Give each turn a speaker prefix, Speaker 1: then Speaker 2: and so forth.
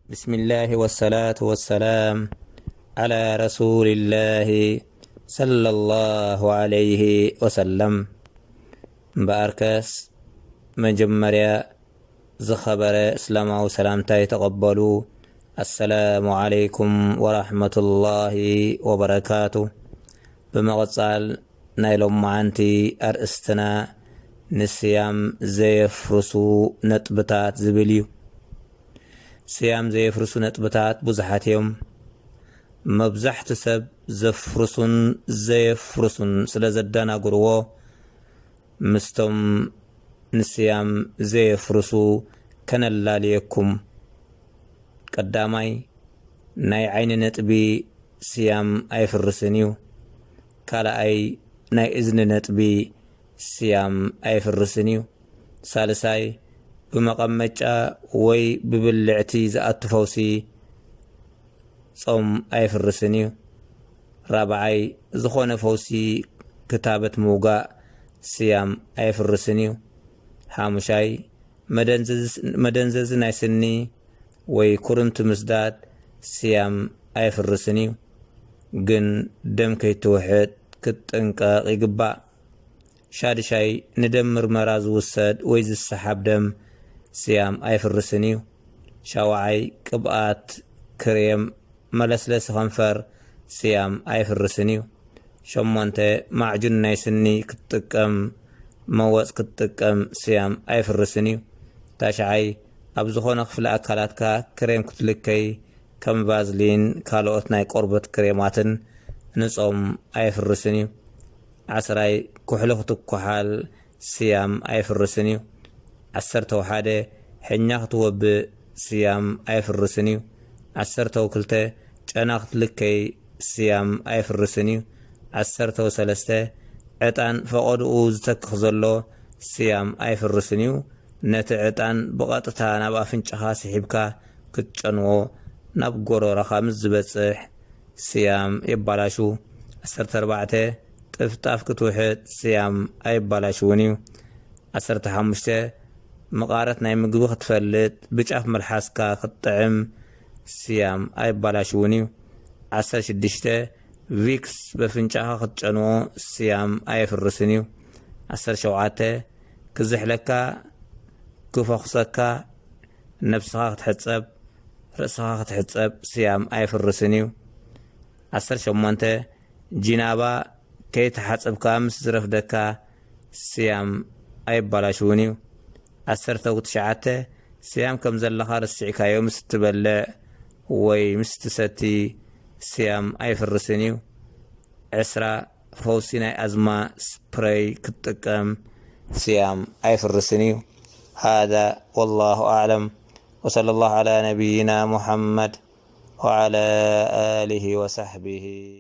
Speaker 1: ብስሚላህ ወሰላቱ ወሰላም ዓላ ረሱሊላህ ሰለላሁ ዓለይሂ ወሰለም። እምበኣርከስ መጀመርያ ዝኸበረ እስላማዊ ሰላምታይ ተቐበሉ። ኣሰላሙ ዓለይኩም ወራህመቱላሂ ወበረካቱ። ብምቕጻል ናይ ሎማዓንቲ ኣርእስትና ንስያም ዘየፍርሱ ነጥብታት ዝብል እዩ። ስያም ዘየፍርሱ ነጥብታት ብዙሓት እዮም። መብዛሕቱ ሰብ ዘፍርሱን ዘየፍርሱን ስለ ዘደናግርዎ ምስቶም ንስያም ዘየፍርሱ ከነላልየኩም። ቀዳማይ ናይ ዓይኒ ነጥቢ ስያም ኣየፍርስን እዩ። ካልኣይ ናይ እዝኒ ነጥቢ ስያም ኣየፍርስን እዩ። ሳልሳይ ብመቐመጫ ወይ ብብልዕቲ ዝኣቱ ፈውሲ ጾም ኣየፍርስን እዩ። ራብዓይ ዝኾነ ፈውሲ ክታበት ምውጋእ ስያም ኣየፍርስን እዩ። ሓሙሻይ መደንዘዚ ናይ ስኒ ወይ ኩርምቲ ምስዳድ ስያም ኣየፍርስን እዩ። ግን ደም ከይትውሕጥ ክትጥንቀቕ ይግባእ። ሻድሻይ፣ ንደም ምርመራ ዝውሰድ ወይ ዝሰሓብ ደም ስያም ኣይፍርስን እዩ። ሻውዓይ፣ ቅብኣት፣ ክሬም፣ መለስለሲ ከንፈር ስያም ኣይፍርስን እዩ። ሸሞንተ፣ ማዕጁን ናይ ስኒ ክትጥቀም መወጽ ክትጥቀም ስያም ኣይፍርስን እዩ። ታሽዓይ፣ ኣብ ዝኾነ ክፍሊ ኣካላትካ ክሬም ክትልከይ ከም ቫዝሊን ካልኦት ናይ ቆርበት ክሬማትን ንጾም ኣየፍርስን እዩ። ዓስራይ፣ ኩሕሊ ክትኩሓል ስያም ኣየፍርስን እዩ። ዓሰርተው ሓደ፣ ሕኛ ክትወብእ ስያም ኣየፍርስን እዩ። ዓሰርተው ክልተ፣ ጨና ክትልከይ ስያም ኣየፍርስን እዩ። ዓሰርተው ሰለስተ፣ ዕጣን ፈቐድኡ ዝተክኽ ዘሎ ስያም ኣየፍርስን እዩ። ነቲ ዕጣን ብቐጥታ ናብ ኣፍንጫኻ ስሒብካ ክትጨንዎ ናብ ጎሮሮኻ ምስ ዝበጽሕ ስያም የባላሹ። ዓሰርተ ኣርባዕተ፣ ጥፍጣፍ ክትውሕጥ ስያም ኣየባላሽውን እዩ። ዓሰርተ ሓሙሽተ፣ መቓረት ናይ ምግቢ ክትፈልጥ ብጫፍ መልሓስካ ክትጥዕም ስያም ኣየባላሽውን እዩ። ዓሰርተ ሽዱሽተ፣ ቪክስ በፍንጫኻ ክትጨንዎ ስያም ኣየፍርስን እዩ። ዓሰርተ ሸውዓተ፣ ክዝሕለካ ክፈኹሰካ ነብስኻ ክትሕጸብ ርእስኻ ክትሕጸብ ስያም ኣየፍርስን እዩ። ዓሰርተ ሸሞንተ ጂናባ ከይተሓጸብካ ምስ ዝረፍደካ ስያም ኣየባላሽውን እዩ። ዓሰርተ ትሽዓተ ስያም ከም ዘለኻ ረሲዕካዮ ምስ እትበልዕ ወይ ምስ እትሰቲ ስያም ኣይፍርስን እዩ። ዕስራ ፈውሲ ናይ ኣዝማ ስፕረይ ክትጥቀም። ስያም ኣይፍርስን እዩ ሃዳ ወላሁ ኣዕለም ወሰለላሁ ዓላ ነብይና ሙሓመድ ወዓላ ኣሊሂ ወሳሕቢሂ።